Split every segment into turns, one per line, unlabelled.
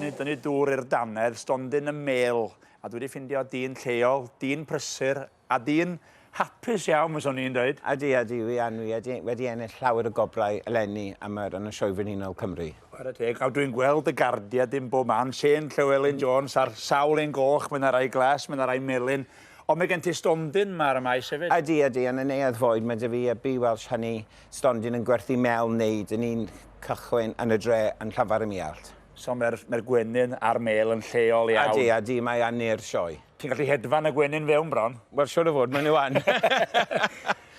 Ni'n tynnu dŵr i'r dannedd, stondin y mêl, a dwi 'di ffindio dyn lleol, dyn prysur, a dyn hapus iawn fyswn i'n dweud. Ydy, ydy, wi yn, wi
ydy, wedi ennill llawer o gobrau eleni am yr yn y Sioe Frenhinol Cymru. Chwarae teg, a dwi'n
gweld y gardiau dim bob man, Shane Llewelyn Jones a'r sawl un goch, mae 'na rai glas, mae 'na rai melyn, ond mae gen ti stondin 'ma ar y Maes hefyd. Ydy, ydy, yn y Neuadd
Fwyd mae 'da fi y Bee Welsh Honey, stondin yn gwerthu mêl wneud yn un cychwyn yn y dre yn Llanfair-ym-Muallt. So mae'r mae'r
gwenyn a'r mêl yn lleol iawn? Ydy, ydy, mae yn ne'r
sioe. Ti'n gallu hedfan y
gwenyn fewn bron? Wel, siwr o fod, maen nhw
yn.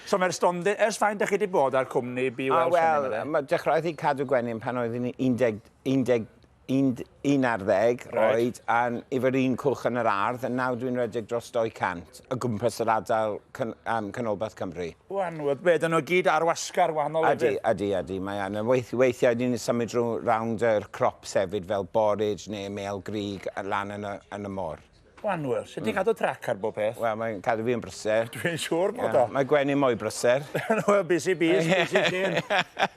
So mae'r stondin, ers faint ydych chi wedi bod â'r cwmni Be Welsh? Wel, mae dechreuodd hi
cadw gwenyn pan oedd hi'n 11, 11, 11 ar ddeg oed, a'n, efo'r un cwch yn yr ardd, a nawr dwi'n rhedeg dros 200. o gwmpas yr ardal can, um, Canolbarth Cymru. Wan, oedd bed yno
gyd ar wasgar wahanol ydy? Ydy, ydy, ydy, mae yn.
Weith, weithiau ni'n symud drwy rawnd yr crop sefyd fel borage neu mel grig lan yn y, yn y môr. Wan, wel, sut ti'n mm.
cadw trac ar bob peth? Wel, mae'n cadw fi yn brysau.
Dwi'n siŵr bod o.
Mae Gwenny mwy brysau.
Wel, busy bees,
busy sy'n.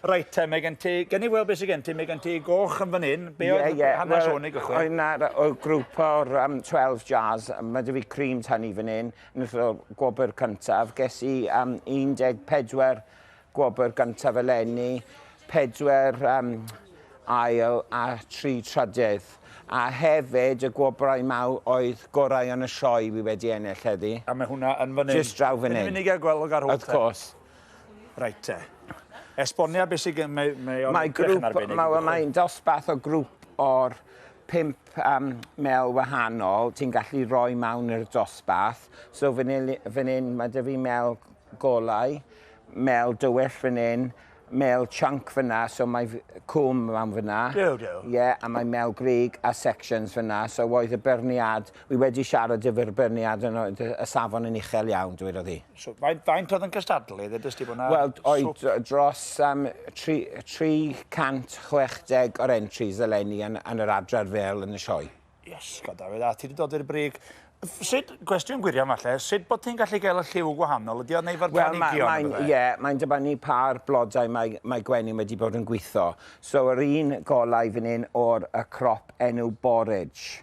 Reit, te, mae gen ti, gen i weld beth sy'n gen ti, mae gen ti goch yn fan hyn, Be yeah, oedd yeah. hanes well, hwn i gychwyn? Oedd na'r grŵp
o'r um, 12 Jazz, mae dy fi cream tan i fan hyn, yn ystod gwobr cyntaf. Ges i um, 14 gwobr gyntaf eleni, 4 um, ail a 3 trydydd. A hefyd y gwobrau maw oedd gorau yn y sioe fi wedi ennill heddi. A mae hwnna yn fan hyn.
Just draw fan hyn. Yn mynd i gael
gweld ar hwn. Of
course.
Reit
te. Esbonia beth sy'n gen... Mae, mae o'n mae grŵp, arbennig. Mae, mae'n
dosbarth o grŵp o'r pimp um, mel wahanol. Ti'n gallu rhoi mawn i'r dosbarth. So fan hyn, mae dy fi mel golau, mel dywyll fan hyn, mel chunk fyna, so mae cwm mawn fyna. Do, do. Ie, yeah, a mae mel grig a sections fyna, so oedd y byrniad, wy wedi siarad efo'r byrniad yn y safon yn uchel iawn, dweud oedd hi. So, faint, faint oedd yn
cystadlu? Ddedys ti bod yna... Wel, oedd
dros um, 360 o'r entries eleni yn, yn yr adran fel yn y sioe. Yes, god Dafydd,
a ti wedi dod i'r brig. Sut, gwestiwn gwirion falle, sut bod ti'n gallu gael y lliw gwahanol? Ydy o'n neu fo'r well, planigion? Wel, mae'n ie, mae'n dibynnu
pa'r blodau mae, mae gwenyn wedi bod yn gweithio. So, yr un golau fan hyn o'r y crop enw borage.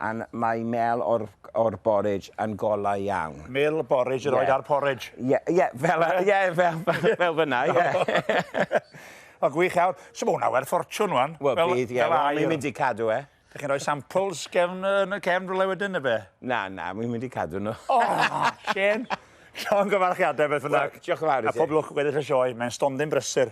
and mae mêl o'r o'r borridge yn golau iawn. Mêl y borridge yr oed
a'r porridge. Ie, ie, fel,
ie, fel, fel fyna, ie. O,
gwych iawn. So mae hwnna werth ffortiwn, wan. Wel, bydd, ie. Wel, ni'n
mynd i cadw e. Dych chi'n rhoi samples
gefn, yn y cefn rhywle wedyn, neu be? Na, na, ni'n mynd i
cadw nhw. O,
Shane! Llon gyfarchiadau beth fynnag. Diolch yn fawr i ti. A pob
lwc weddill
y
sioe.
Mae'n
stondin
brysur.